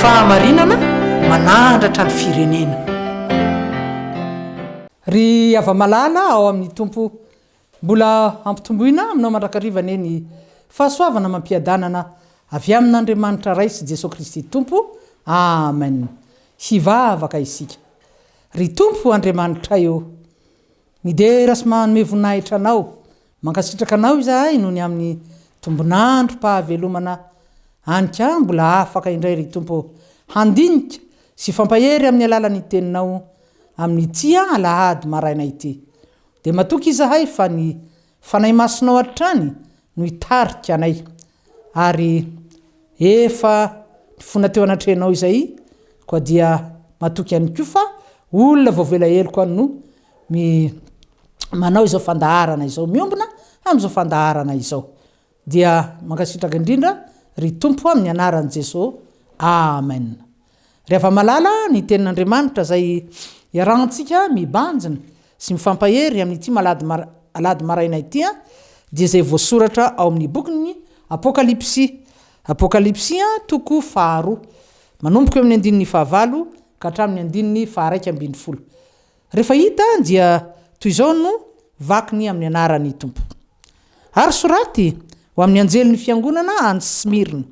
Fahamarinana manahandratra ny firenena. Ry hava-malala ao amin'ny Tompo, mbola hampitomboina aminao mandrakariva anie ny fahasoavana amam-piadanana avy amin'Andriamanitra Ray sy Jesoa Kristy Tompo. Amen! Hivavaka isika. Ry Tompo Andriamanitray ô! Midera sy manome voninahitra anao. Mankasitraka anao izahay noho ny amin'ny tombon'androm-pahavelomana any ka mbola afaka indray ry Tompo handinika sy hifampahery amin'ny alalan'ny teninao amin'ity alahady maraina ity. Dia matoky izahay fa ny Fanahy Masinao hatrany no hitarika anay, ary efa ny fona teo anatrehanao izay koa dia matoky ihany koa fa olona vao velaheloko any no mi manao izao fandaharana izao, miombona amin'izao fandaharana izao. Dia mankasitraka indrindra ry Tompo amin'ny anaran'i Jeso Amen. Ry hava-malala ny tenin'Andriamanitra izay iarahantsika mibanjina sy mifampahery amin'ity malady alahady maraina ity an, dia izay voasoratra ao amin'ny bokin'ny Apokalypsy, Apokalypsy toko faharoa, manomboka eo amin'ny andininy fahavalo ka hatramin'ny andininy faharaika ambin'ny folo. Rehefa hita dia toy izao no vakiny amin'ny anaran'ny Tompo. Ary soraty ho amin'ny anjelin'ny fiangonana any Smyrna,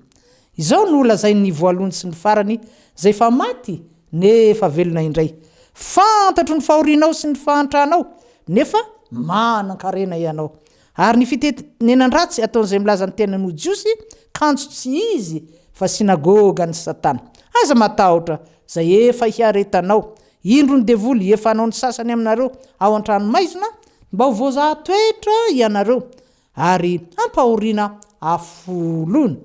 Izao no lazain'ny voalohany sy ny farany, izay efa maty nefa velona indray, Fantatro ny fahorianao sy ny fahantranao, nefa manan-karena ianao, ary ny fitenenan-dratsy ataon'izay milaza ny tenany ho Jiosy, kanjo tsy izy fa synagogan'i Satana. Aza matahotra izay efa hiaretanao, Indro ny devoly efa hanao ny sasany aminareo ao an-tranomaizina mba ho voazaha toetra ianareo ary hampahoriana afo lona.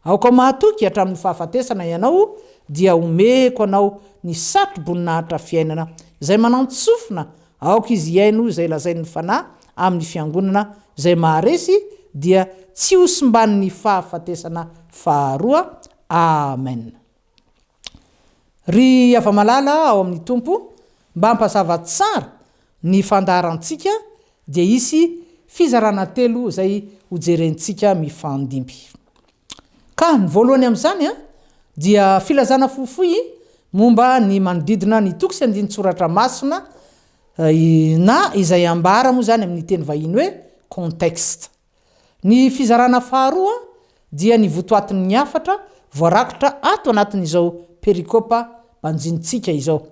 Aoka ho mahatoky hatramin'ny fahafatesana ianao dia homeko anao ny satro-boninahitra fiainana izay manan-tsofina, aoka izy hihaino izay lazain'ny Fanahy amin'ny Fiangonana izay maharesy dia tsy ho simban'ny fahafatesana faharoa. Amen. Ry hava-malala ao amin'ny Tompo, mba ampazava tsara ny fandaharantsika dia hisy fizarana telo izay hojerentsika mifandimby. Ka ny voalohany amin'izany dia filazana fohifohy momba ny manodidina ny toko sy andinin-tsoratra masina na izay ambara moa izany amin'ny teny vahiny hoe contexte. Ny fizarana faharoa dia ny votoatin'ny hafatra voarakitra ato anatin'izao perikopa banjinintsika izao.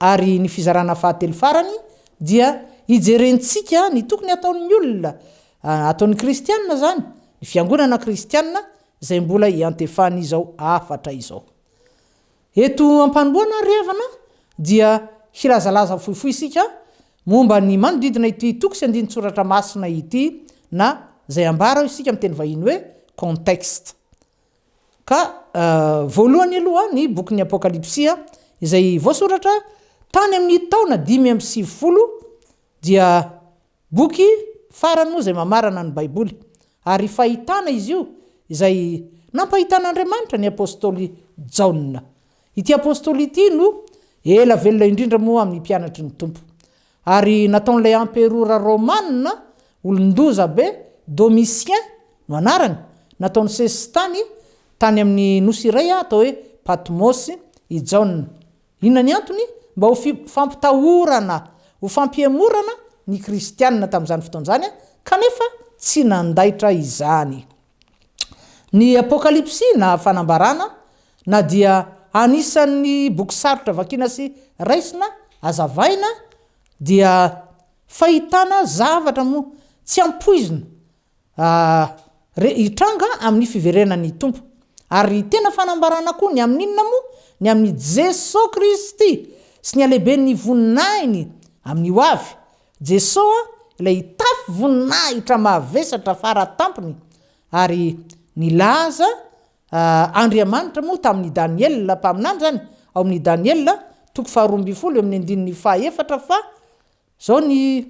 Ary ny fizarana fahatelo farany dia hijerentsika ny tokony hataon'ny olona, ataon'ny kristiana izany, ny fiangonana kristiana izay mbola iantefan'izao hafatra izao. Eto am-panomboana ary havana dia hilazalaza fohifohy isika momba ny manodidina ity toko sy andinin-tsoratra masina ity na izay ambara ao isika amin'ny teny vahiny hoe contexte. Ka voalohany aloha ny bokin'ny Apokalypsia izay voasoratra tany amin'ny taona dimy amby sivifolo dia Boky farany moa izay mamarana ny Baiboly, ary fahitana izy io izay nampahitan'Andriamanitra ny apostoly Jaona. Ity apostoly ity no ela velona indrindra moa amin'ny mpianatry ny Tompo, ary nataon'ilay emperora romana olon-doza be, Domitien no anarany, nataony sesitany tany amin'ny nosy iray atao hoe Patmos i Jaona. Inona ny antony? Mba ho fampitahorana, ho fampihemorana ny Kristianina tamin'izany fotoana izany, kanefa tsy nandaitra izany. Ny Apokalypsy, na Fanambarana, na dia anisan'ny boky sarotra vakiana sy raisina, azavaina, dia fahitana zavatra moa tsy ampoizina Ary hitranga amin'ny fiverenan'ny Tompo. Ary tena fanambarana koa ny amin'inona moa? Ny amin'i Jesoa Kristy sy ny halehiben'ny voninahiny amin'ny ho avy. Jesoa ilay hitafy voninahitra mahavesatra fara tampony. Ary nilaza Andriamanitra moa tamin'i Daniela mpaminany izany, ao amin'ny Daniela, toko faharoa ambin'ny folo, eo amin'ny andininy fahaefatra, fa Izao ny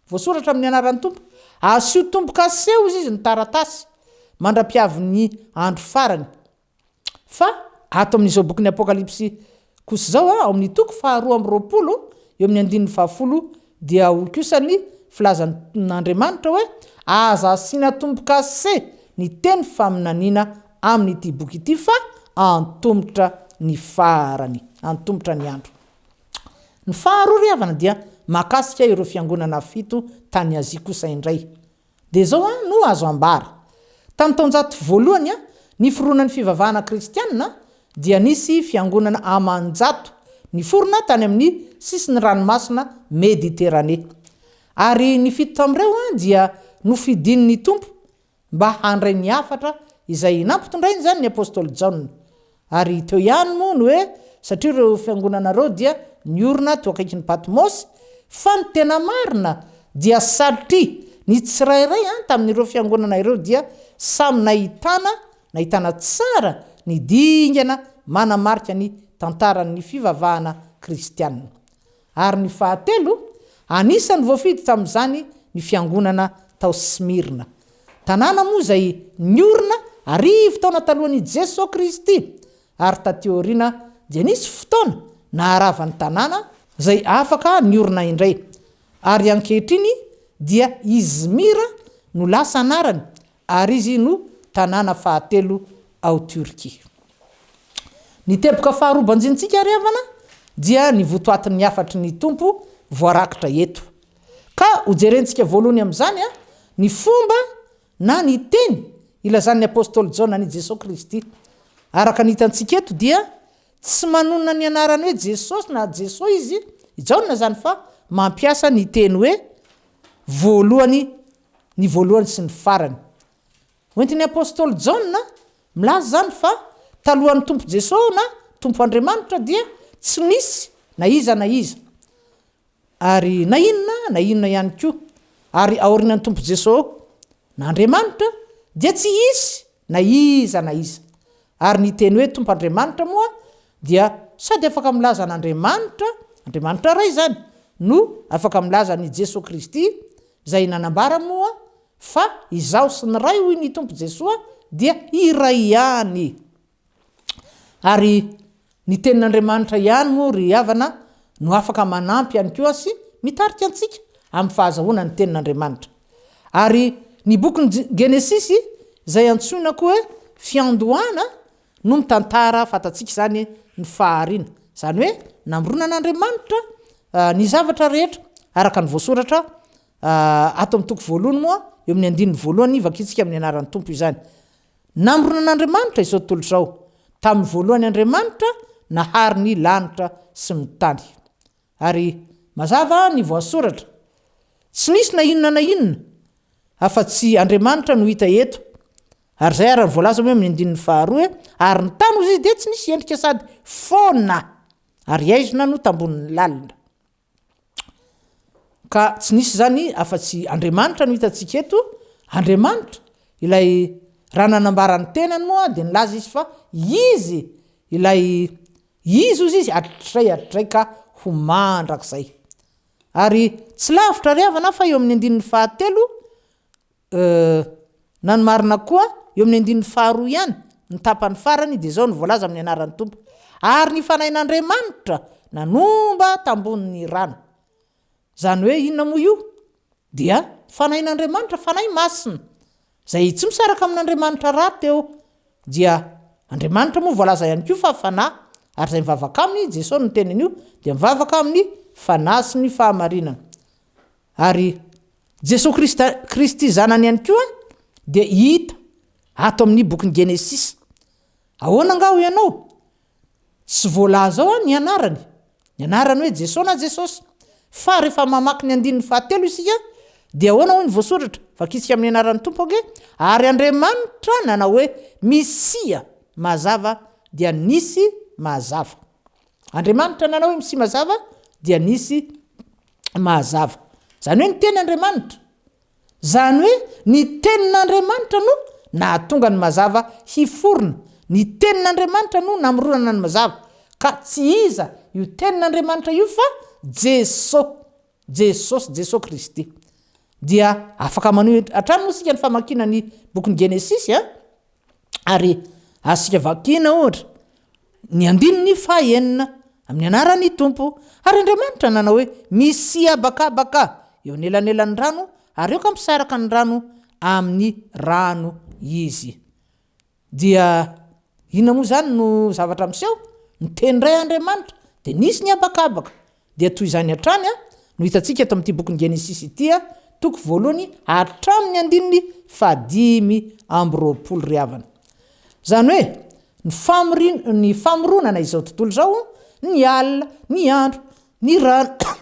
voasoratra amin'ny anaran'ny Tompo, Asio tombo-kase sy hozy izy ny taratasy, mandra-piavin'ny andro farany. Fa ato amin'izao bokin'ny Apokalypsy kosa izao, ao amin'ny toko faharoa amby roapolo, eo amin'ny andininy fahafolo, dia ao kosa ny filazan'Andriamanitra hoe, Aza asiana tombo-kase ny teny faminaniana amin'ity boky ity, fa antomotra ny farany, antomotra ny andro. Ny faharoa ry havana dia mahakasika ireo fiangonana fito tany Azia kosa indray. Dia izao an no azo ambara. Tamin'ny taonjato voalohany niforonan'ny fivavahana kristianina dia nisy fiangonana aman-jato niforona tany amin'ny sisin'ny ranomasina Mediterane. Ary ny fito tamin'ireo dia nofidin'ny Tompo mba handray ny hafatra izay nampitondrainy izany ny apostoly Jaona. Ary teo ihany moa ny hoe satria ireo fiangonana ireo dia niorina teo akaikin'i Patmosy, fa ny tena marina dia satria ny tsirairay tamin'ireo fiangonana ireo dia samy nahitana nahitana tsara ny dingana manamarika ny tantaran'ny fivavahana kristiana. Ary ny fahatelo, anisan'ny voafidy tamin'izany ny fiangonana tao Smyrna. Tanàna moa izay niorina arivo taona talohan'i Jeso Kristy, ary taty aoriana dia nisy fotoana naharava ny tanàna, izay afaka niorina indray, ary ankehitriny dia Izmir no lasa anarany ary izy no tanàna fahatelo ao Turquie. Ny teboka faharoa banjinintsika, ry havana, dia ny votoatin'ny hafatry ny Tompo voarakitra eto. Ka hojerentsika voalohany amin'izany ny fomba na ny teny ilazan'ny apostoly Jaona an'i Jesoa Kristy. Araka ny hitantsika eto dia tsy manonona ny anarany hoe Jesosy na Jesoa izy i Jaona izany fa mampiasa ny teny hoe voalohany ny voalohany sy ny farany. Hoentin'ny apostoly Jaona milaza izany fa talohan'ny Tompo Jesoa na Tompo Andriamanitra dia tsy nisy na iza na iza ary na inona na inona ihany koa ary aorianan'ny Tompo Jesoa na Andriamanitra dia tsy hisy na iza na iza. Ary ny teny hoe Tompo Andriamanitra moa dia sady afaka milaza an'Andriamanitra, Andriamanitra Ray izany, no afaka milaza an'i Jesoa Kristy, izay nanambara moa fa Izaho sy ny Ray hoy ny Tompo Jesoa dia iray ihany. Ary ny tenin'Andriamanitra ihany moa ry havana no afaka manampy ihany koa sy mitarika antsika amin'ny fahazahoana ny tenin'Andriamanitra. Ary ny bokin'ny Genesisy izay antsoina koa hoe Fiandohana no mitantara fantatsika izany ny fahariana, izany hoe namoronan'Andriamanitra ny zavatra rehetra araka ny voasoratra ato amin'ny toko voalohany moa eo amin'ny andininy voalohany vakintsika amin'ny anaran'ny Tompo izany. Namorona an'Andriamanitra izao tontolo izao. Tamin'ny voalohany Andriamanitra nahary ny lanitra sy ny tany. Ary mazava ny voasoratra. Tsy nisy na inona na inona afa-tsy Andriamanitra no hita eto. Ary izay ary no voalaza moa eo amin'ny andininy faharoa hoe, Ary ny tany hoy izy dia tsy nisy endrika sady foana, ary haizina no tambonin'ny lalina. Ka tsy nisy izany afa-tsy Andriamanitra no hitantsika eto, Andriamanitra ilay raha nanambara ny tenany moa dia nilaza izy fa Izy ilay Izy hozy izy hatrizay hatrizay ka ho mandrakizay. Ary tsy lavitra ry havana fa eo amin'ny andininy fahatelo Euh. Na ny marina koa, eo amin'ny andininy faharoa ihany, ny tapany farany, dia izao no voalaza amin'ny anaran'ny Tompo, Ary ny Fanahin'Andriamanitra nanomba tambohon'ny rano. Izany hoe inona moa io? Dia Fanahin'Andriamanitra, Fanahy Masina, izay tsy misaraka amin'Andriamanitra rahateo. Dia Andriamanitra moa voalaza ihany koa fa Fanahy, ary izay mivavaka Aminy, Jesosy no niteny an'io, dia mivavaka amin'ny Fanahy sy ny Fahamarinana. Ary Jesoa Kristy, Kristy Zanany ihany koa dia hita ato amin'ny bokin'ny Genesisy. Ahoana angaha hoy ianao? Tsy voalaza ao ny anarany, ny anarany hoe Jesoa na Jesosy. Fa rehefa mamaky ny andininy fahatelo isika dia ahoana hoy ny voasoratra? Vakisika amin'ny anaran'ny Tompo ange, ary Andriamanitra nanao hoe Misia, mazava, dia nisy, mazava. Andriamanitra nanao hoe misy mazava dia nisy mahazava. Izany hoe ny teny Andriamanitra. Izany hoe ny tenin'Andriamanitra no nahatonga ny mazava hiforona. Ny tenin'Andriamanitra no namoronana ny mazava. Ka tsy iza io tenin'Andriamanitra io fa Jeso. Jesosy, Jesoa Kristy. Dia afaka maneho hatrany moa isika ny famakiana ny bokin'ny Genesisy a! Ary azontsika vakiana ohatra ny andininy fahenina amin'ny anaran'ny Tompo. Ary Andriamanitra nanao hoe, Misia habakabaka eo anelanelan'ny rano, ary aoka misaraka ny rano amin'ny rano izy. Dia inona moa izany no zavatra miseho? Niteny indray Andriamanitra, dia nisy ny habakabaka. Dia toy izany hatrany no hitantsika eto amin'ity bokin'i Genesisy ity, toko voalohany hatramin'ny andininy fahadimy amby roapolo ry havana. Izany hoe, ny famorin-, ny famoronana izao tontolo izao, ny alina, ny andro, ny rano,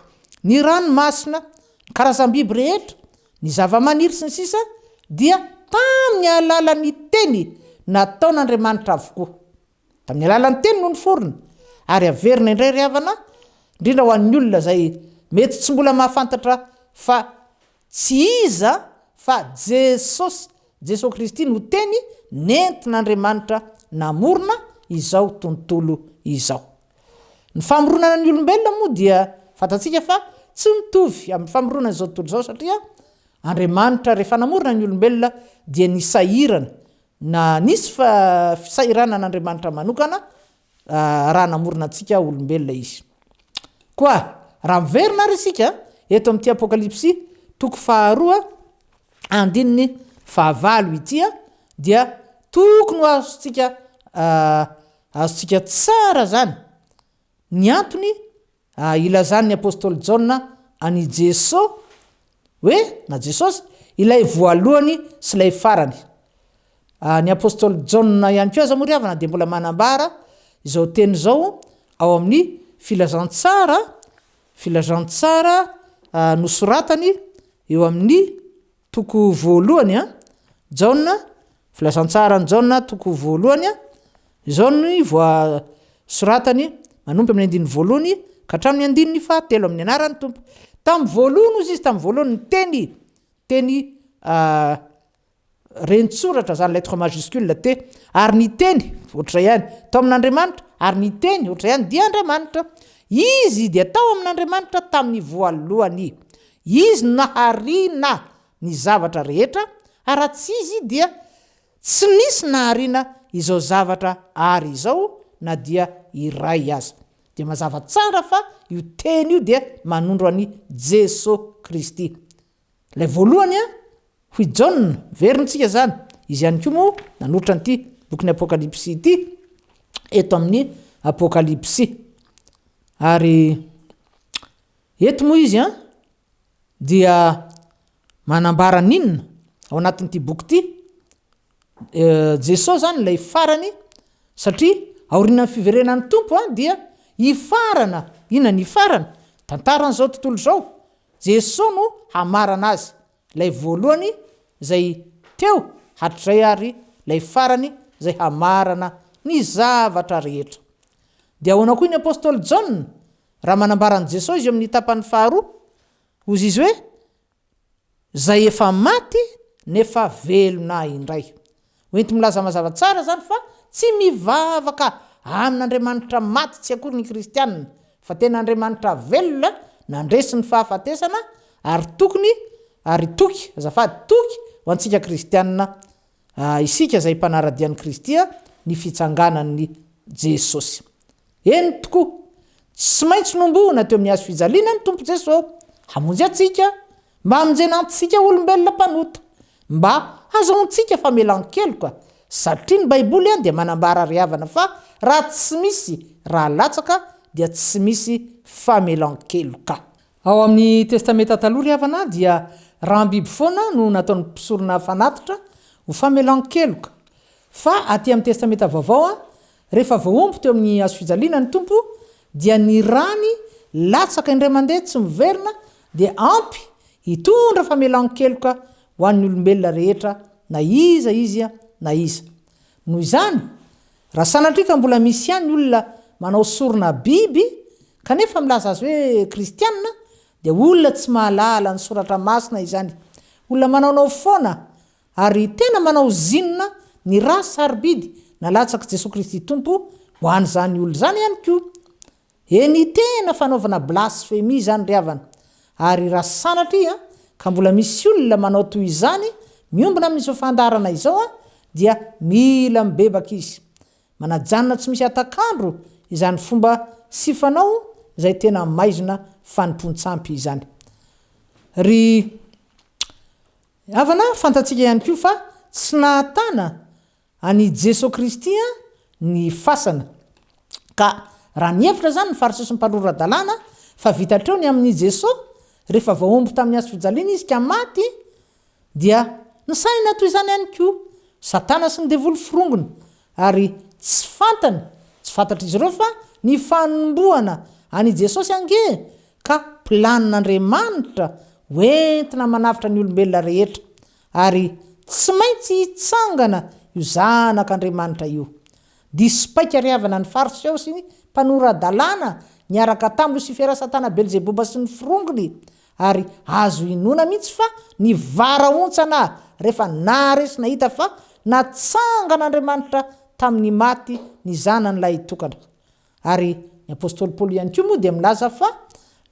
ny ranomasina, ny karazam-biby rehetra, ny zavamaniry, sy ny sisa dia tamin'ny alalan'ny Teny nataon'Andriamanitra avokoa. Tamin'ny alalan'ny Teny no niforona. Ary averina indray ry havana, indrindra ho an'ny olona izay mety tsy mbola mahafantatra fa tsy iza fa Jesosy, Jesoa Kristy no Teny nentin'Andriamanitra namorona izao tontolo izao. Ny famoronana ny olombelona moa dia fantatsika fa tsy mitovy amin'ny famoronana izao tontolo izao satria Andriamanitra rehefa namorona ny olombelona dia nisahirana na nisy fisahiranana Andriamanitra manokana raha namorona antsika olombelona izy. Koa raha miverina ary isika eto amin'ity Apokalypsy toko faharoa andininy fahavalo ity dia tokony ho azontsika Azontsika tsara izany. Ny antony, ah, ilazan'ny apostoly Jaona an'i Jeso hoe, na Jesosy, ilay voalohany sy ilay farany. Ah, ny apostoly Jaona ihany koa aza moa ry havana dia mbola manambara izao teny izao ao amin'ny Filazantsara, Filazantsara ah, nosoratany eo amin'ny Toko voalohany an, Jaona, Filazantsaran'i Jaona, toko voalohany an, Izao ny voasoratany, manomboka amin'ny andininy voalohany ka hatramin'ny andininy fahatelo, amin'ny anaran'ny Tompo. Tamin'ny voalohany hozy izy, tamin'ny voalohany ny Teny, Teny rentsoratra izany lettre majuscule T, ary ny Teny, ohatr'izay ihany, tao amin'Andriamanitra, ary ny Teny, ohatr'izay ihany, dia Andriamanitra. Izy dia tao amin'Andriamanitra tamin'ny voalohany. Izy no nahariana ny zavatra rehetra, ary raha tsy Izy dia tsy nisy nahariana izao zavatra àry izao na dia iray aza. Dia mazava tsara fa io Teny io dia manondro an'i Jeso Kristy. Ilay voalohany an, hoy Jaona, verintsika izany, izy ihany koa moa nanoritra an'ity bokin'ny Apokalypsy ity, eto amin'ny Apokalypsy. Ary Eto moa izy an, dia manambara ny inona ao anatin'ity boky ity? E, Jesoa izany ilay farany, satria aorianan'ny fiverenan'ny Tompo an, dia hifarana, inona ny hifarana? Tantaran'izao tontolo izao, Jesoa no hamarana azy, ilay voalohany izay teo hatrizay ary ilay farany izay hamarana ny zavatra rehetra. Dia ahoana koa ny Apostoly Jaona? Raha manambara an'i Jesoa izy eo amin'ny tapany faharoa, hozy izy hoe, Izay efa maty nefa velona indray. Hoenti-milaza mazava tsara izany fa tsy mivavaka amin'Andriamanitra maty tsy akory ny kristianina, fa tena Andriamanitra velona nandresy ny fahafatesana ary tokony ary toky, azafady, toky ho antsika kristianina A Isika izay mpanara-dia an'i Kristy a Ny fitsanganan'i Jesosy Eny tokoa, tsy maintsy nombohina teo amin'ny Hazo fijaliana ny Tompo Jeso hamonjy antsika mba hamonjena antsika olombelona mpanota mba hazahoantsika famelan-keloka satria ny Baiboly a dia manambara ry havana fa raha tsy misy ra latsaka dia tsy misy famelan-keloka. Ao amin'ny Testamenta Taloha ry havana dia ram-biby foana no nataon'ny mpisorona fanatitra ho famelan-keloka. Fa aty amin'ny Testamenta Vaovao, rehefa voaomby teo amin'ny hazofijaliana ny Tompo dia ny rany latsaka indray mandeha tsy miverina dia ampy hitondra famelan-keloka ho an'ny olombelona rehetra na iza izy na iza. Noho izany, raha sanatria ka mbola misy ihany olona manao sorona biby kanefa milaza azy hoe kristiana dia olona tsy mahalala ny soratra masina izany. Olona manaonao foana ary tena manao zinona ny ra sarobidy nalatsak'i Jesoa Kristy Tompo ho an'izany olona izany ihany koa. Eny tena fanaovana blasphemie izany ry havana, ary raha sanatria ka mbola misy olona manao toy izany miombona amin'izao fandaharana izao an, dia mila mibebaka izy. Manajanona tsy misy hatak'andro izany fomba sy fanao izay tena maizina fanompoan-tsampy izany. Ry havana, fantatsika ihany koa fa tsy nahatana An'i Jeso Kristy ny fasana. Ka raha nihevitra izany ny Fariseo sy ny Mpanory Ra-dalàna fa vita hatreo ny amin'i Jeso, rehefa voaomby tamin'ny hazo fijaliana Izy ka maty, dia nisaina toy izany ihany koa Satana sy ny Devoly forongony, ary tsy fantany, tsy fantatr'izy ireo fa ny fanombohana an'i Jesosy ange ka planin'Andriamanitra ho entina manavotra ny olombelona rehetra. Ary tsy maintsy hitsangana io Zanak'Andriamanitra io. Diso paika ry havana ny Fariseo sy ny mpanora-dalàna niaraka tamin'i Losifera Satana Belzeboba sy ny firongony, ary azo inoana mihitsy fa nivarahontsana rehefa nahare sy nahita fa natsangan'Andriamanitra tamin'ny maty ny Zanany lahitokana. Ary ny apostoly Paoly ihany koa moa dia milaza fa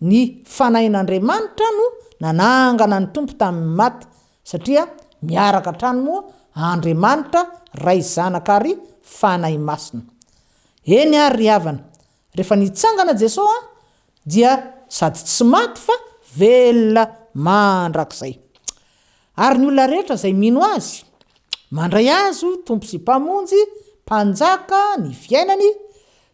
ny Fanahin'Andriamanitra no nanangana ny Tompo tamin'ny maty, satria miaraka hatrany moa Andriamanitra, Ray, Zanaka ary Fanahy Masina. Eny ary ry havana, rehefa nitsangana Jesoa dia sady tsy maty fa velona mandrakizay. Ary ny olona rehetra izay mino Azy, mandray Azy ho Tompo sy Mpamonjy, Mpanjaka, ny fiainany,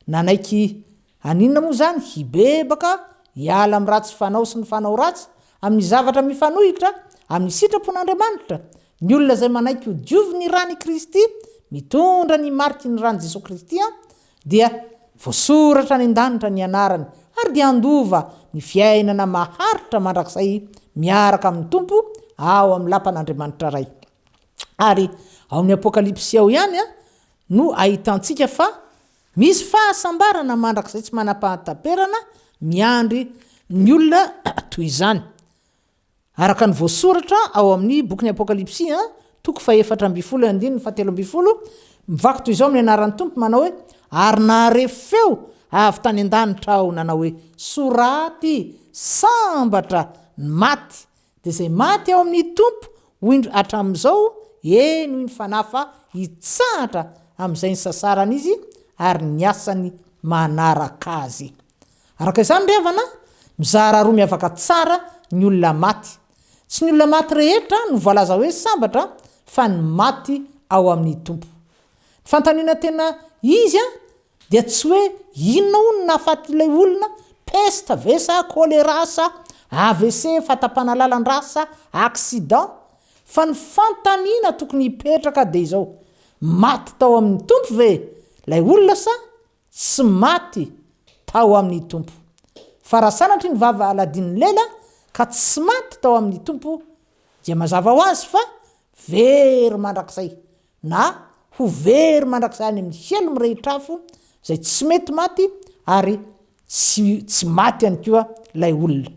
nanaiky, haninona moa izany, hibebaka, hiala amin'ny ratsy fanao sy ny fanao ratsy, amin'ny zavatra mifanohitra amin'ny sitrapon'Andriamanitra, ny olona izay manaiky ho diovy ny Ran'i Kristy, mitondra ny mariky ny Ran'i Jesoa Kristy, Dia voasoratra any an-danitra ny anarany, ary dia handova ny fiainana maharitra mandrakizay miaraka amin'ny Tompo ao amin'ny lapan'Andriamanitra Ray. Ary ao amin'ny Apokalypsy ao ihany no ahitantsika fa misy fahasambarana mandrakizay tsy manam-pahataperana miandry ny olona toy izany. Araka ny voasoratra ao amin'ny bokin'ny Apokalypsy, toko fahefatra ambin'ny folo eo andininy fahatelo ambin'ny folo, mivaky toy izao ny anaran'ny Tompo, manao hoe, Ary nahare feo avy tany an-danitra aho nanao hoe, Soraty, Sambatra, ny maty, dia izay maty ao amin'ny Tompo, ho indro hatramin'izao, eny, hoy ny Fanahy, fa hitsahatra amin'izay nisasaran'izy ary ny asany manaraka azy. Araka izany ry havana, mizara roa miavaka tsara ny olona maty. Tsy ny olona maty rehetra no voalaza hoe sambatra fa ny maty ao amin'ny Tompo. Ny fanontaniana tena izy dia tsy hoe inona hono no nahafaty ilay olona, peste ve sa choléra sa AVC, fahatapana lalan-drà sa accident, fa ny fanontaniana tokony hipetraka dia izao, maty tao amin'ny Tompo ve ilay olona sa Tsy maty tao amin'ny Tompo. Fa raha sanatria ny vava aladin'ny lela ka tsy maty tao amin'ny Tompo dia mazava ho azy fa very mandrakizay na ho very mandrakizay any amin'ny helo mirehitr'afo izay tsy mety maty ary tsy tsy maty ihany koa ilay olona.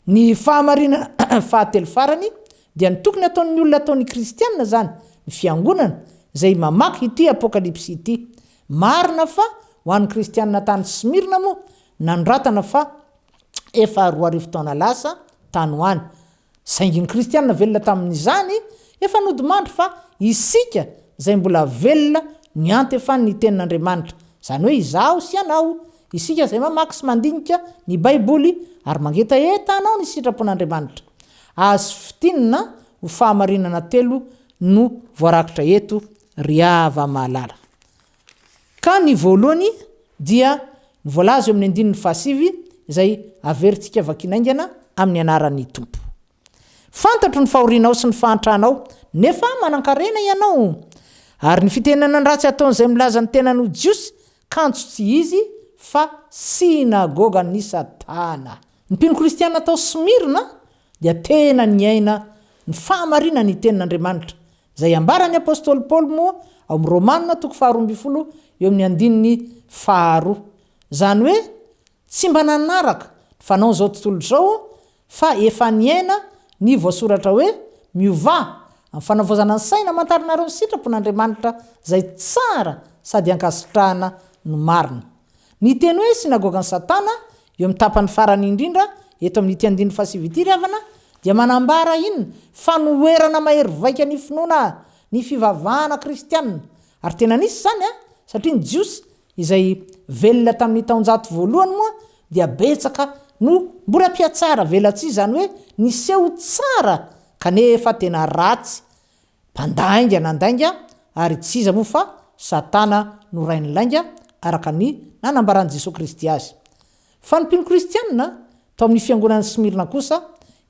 Ny fahamarinana fahatelo farany dia ny tokony ataon'ny olona ataon'ny kristiana izany ny fiangonana izay mamaky ity apokalypsy ity Marina fa ho an'ny Kristianina tany Smyrna moa, nanoratana fa efa roa arivo taona lasa tany ho any. Saingy ny Kristianina velona tamin'izany efa nodimandry fa isika izay mbola velona niantefan'ny ny Tenin'Andriamanitra, izany hoe izaho sy ianao, isika izay mamaky sy mandinika ny Baiboly ary mangetaheta hanao ny sitrapon'Andriamanitra. Azo fintinina ho fahamarinana telo no voarakitra eto Ry hava mahalala. Ka ny voalohany dia ny voalaza eo amin'ny andininy fahasivy izay averintsika vakina haingana amin'ny anaran'ny Tompo. Fantatro ny fahorianao sy ny fahantranao nefa manankarena ianao. Ary ny fitenenana ratsy ataon'izay milaza ny tenany ho Jiosy kanjo tsy izy fa synagogan'i Satana. Ny mpino kristiana tao Smyrna dia tena niaina ny fahamarinan'ny tenin'Andriamanitra Izay ambaran'ny apostoly Paoly moa ao amin'ny Romana toko faharoa ambin'ny folo eo amin'ny andininy faharoa. Izany hoe tsy mba nanaraka ny fanaon'izao tontolo izao fa efa niaina ny voasoratra hoe, Miovà amin'ny fanavaozana ny saina amantaranareo ny sitrapon'Andriamanitra izay tsara sady ankasitrahana no marina. Ny teny hoe synagogan'i Satana Eo amin'ny tapany farany indrindra eto amin'ity andininy fahasivy ity ry havana dia manambara iny fanoherana mahery vaika ny finoana ny fivavahana kristiana, ary tena nisy izany satria ny Jiosy izay velona tamin'ny taonjato voalohany moa dia betsaka no mbola mpihatsara velatsihy izany hoe niseho tsara kanefa tena ratsy Mpandà haingana handainga ary tsy iza moa fa Satana no rain'ny lainga araka ny nanambaran'i Jesoa Kristy azy. Fa ny mpino kristianina tao amin'ny fiangonan'i Smyrna kosa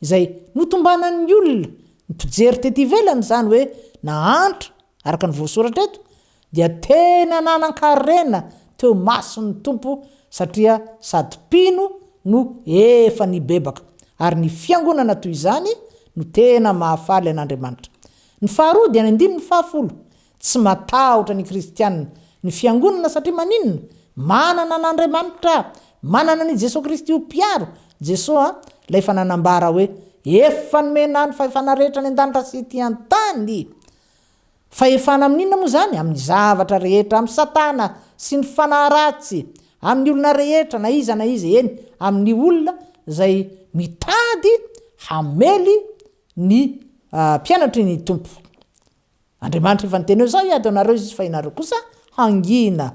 izay notombanan'ny olona mpijery tety ivelany izany hoe nahantra araka ny voasoratra eto dia tena nanan-karena teo mason'ny Tompo satria sady mpino no efa nibebaka, ary ny fiangonana toy izany no tena mahafaly an'Andriamanitra. Ny faharoa dia ny andininy fahafolo, Tsy matahotra ny kristiana ny fiangonana satria maninona? Manana an'Andriamanitra, manana an'i Jesoa Kristy ho mpiaro, Jesoa Ilay efa nanambara hoe, Efa nomena ahy ny fahefana rehetra any an-danitra sy ety an-tany. Fahefana amin'ny inona moa izany? Amin'ny zavatra rehetra, amin'i Satana sy ny fanahy ratsy, amin'ny olona rehetra, na iza na iza, eny, amin'ny olona izay mitady hamely ny mpianatry ny Tompo. Andriamanitra efa niteny hoe, Izao hiady ho anareo Izy, fa ianareo kosa hangina.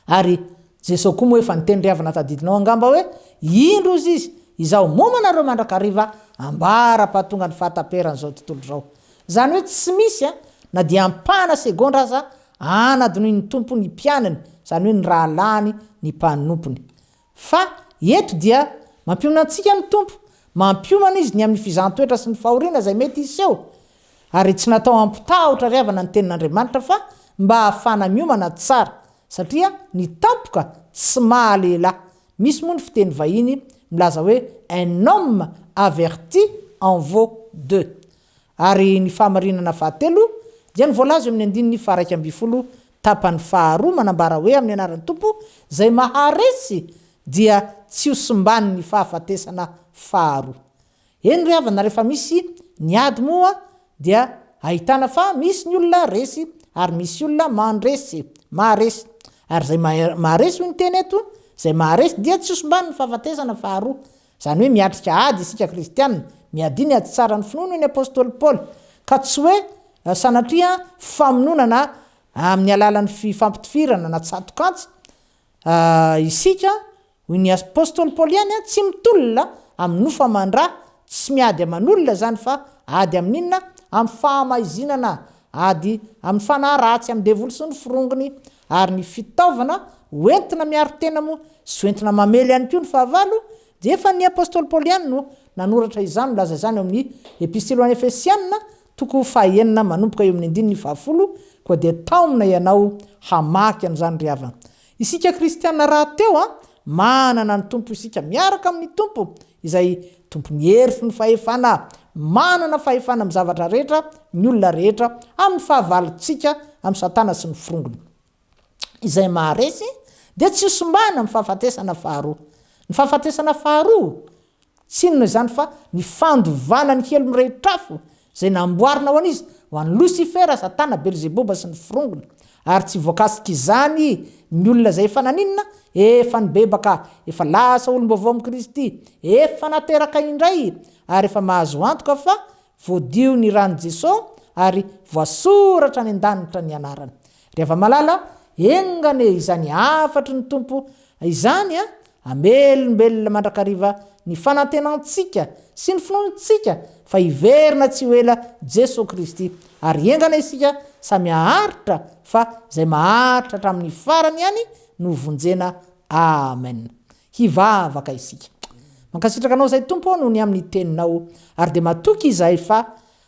Ary Jeso koa moa efa niteny ry havana tadidinao angamba hoe, Indro ozy izy, izaho momo anareo mandrakariva ambara-pahatonga ny fahataperan'izao tontolo izao. Izany hoe tsy misy a, na dia ampahana segondra aza, anadinoin'ny Tompo ny mpianany, izany hoe ny rahalahiny, ny mpanompony. Fa, eto dia, mampiomana antsika ny Tompo, mampiomana Izy ny amin'ny fizahan-toetra sy ny fahoriana izay mety hiseho. Ary tsy natao hampitaha hotrereavana ny Tenin'Andriamanitra fa mba hahafahana miomana tsara, satria ny tampoka tsy maha-lehilahy. Misy moa ny fiteny vahiny milaza hoe un homme averti en vaut deux. Ary ny fahamarinana fahatelo dia ny voalaza eo amin'ny andininy faha-iraika ambin'ny folo tapany faharoa manambara hoe amin'ny anaran'ny Tompo izay maharesy dia tsy ho simban'ny fahafatesana faharoa. Eny ry havana rehefa misy ny ady moa dia ahitana fa misy ny olona resy ary misy olona mandresy, maharesy. Ary izay maharesy hoy ny teny eto, izay maharesy dia tsy ho simban'ny fahafatesana faharoa. Izany hoe miatrika ady isika kristiana, miadia ny ady tsara ny finoana hoy ny apostoly Paoly, ka tsy hoe sanatria famononana amin'ny alalan'ny fifampitifirana na tsato-kantsa isika, hoy ny apostoly Paoly ihany, tsy mitolona amin'ny nofo aman-dra, tsy miady aman'olona izany fa ady amin'inona? Amin'ny fahamaizinana, ady amin'ny fanahy ratsy, amin'ny devoly sy ny firongony, ary ny fitaovana ho entina miaro tena moa sy ho entina mamely ihany koa ny fahavalo dia efa ny apostoly Paoly ihany no nanoratra izany, milaza izany ao amin'ny Epistily ho an'ny Efesiana toko fahaenina manomboka eo amin'ny andininy fahafolo, koa dia taomina ianao hamaky an'izany ry havana. Isika kristiana rahateo, manana ny Tompo isika, miaraka amin'ny Tompo Izay tompon'ny hery sy ny fahefana. Manana fahefana amin'ny zavatra rehetra ny olona rehetra amin'ny fahavalontsika amin'i Satana sy ny forongony. Izay maharesy dia tsy hosimbana amin'ny fahafatesana faharoa. Ny fahafatesana faharoa tsy inona izany fa ny fandovana ny helony rehetr'afo izay namboarina ho an'iza? Ho an'i Losifera, Satana, Belzeboba sy ny forongony. Ary tsy voakasik'izany ny olona izay efa naninona? Efa nibebaka, efa lasa olom-baovao amin'i Kristy, efa nateraka indray, ary efa mahazo antoka fa voadio ny ran'i Jesoa ary voasoratra any an-danitra ny anarany. Ry hava-malala, enga anie izany hafatry ny Tompo izany hamelombelona mandrakariva ny fanantenantsika sy ny finoantsika fa hiverina tsy ho ela Jesoa Kristy, ary enga anie isika samy haharitra fa izay maharitra hatramin'ny farany ihany no vonjena. Amen. Hivavaka isika. Mankasitraka Anao izay Tompo ô noho ny amin'ny Teninao, ary dia matoky izahay fa.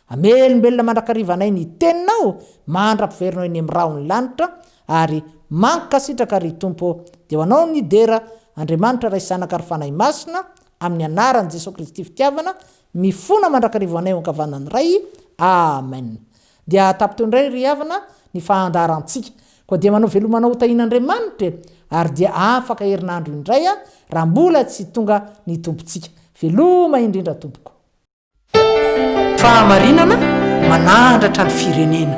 Hamelombelona mandrakariva anay ny teninao mandra-piverina eny amin'ny rahon'ny lanitra ary mankasitraka ry Tompo ô! Dia ho anao ny dera Andriamanitra Ray Zanaka ary Fanahy Masina amin'ny anaran'i Jesoa Kristy fitiavana mifona mandrakariva ho anay ho ankavanan'ny Ray Amen Dia tapiteo indray ry havana ny fandaharantsika koa dia manao veloma anao ho tahin'Andriamanitra e ary dia afaka herinandro indray raha mbola tsy tonga ny Tompontsika Veloma indrindra Tompoko. Fahamarinana manahandratra ny firenena.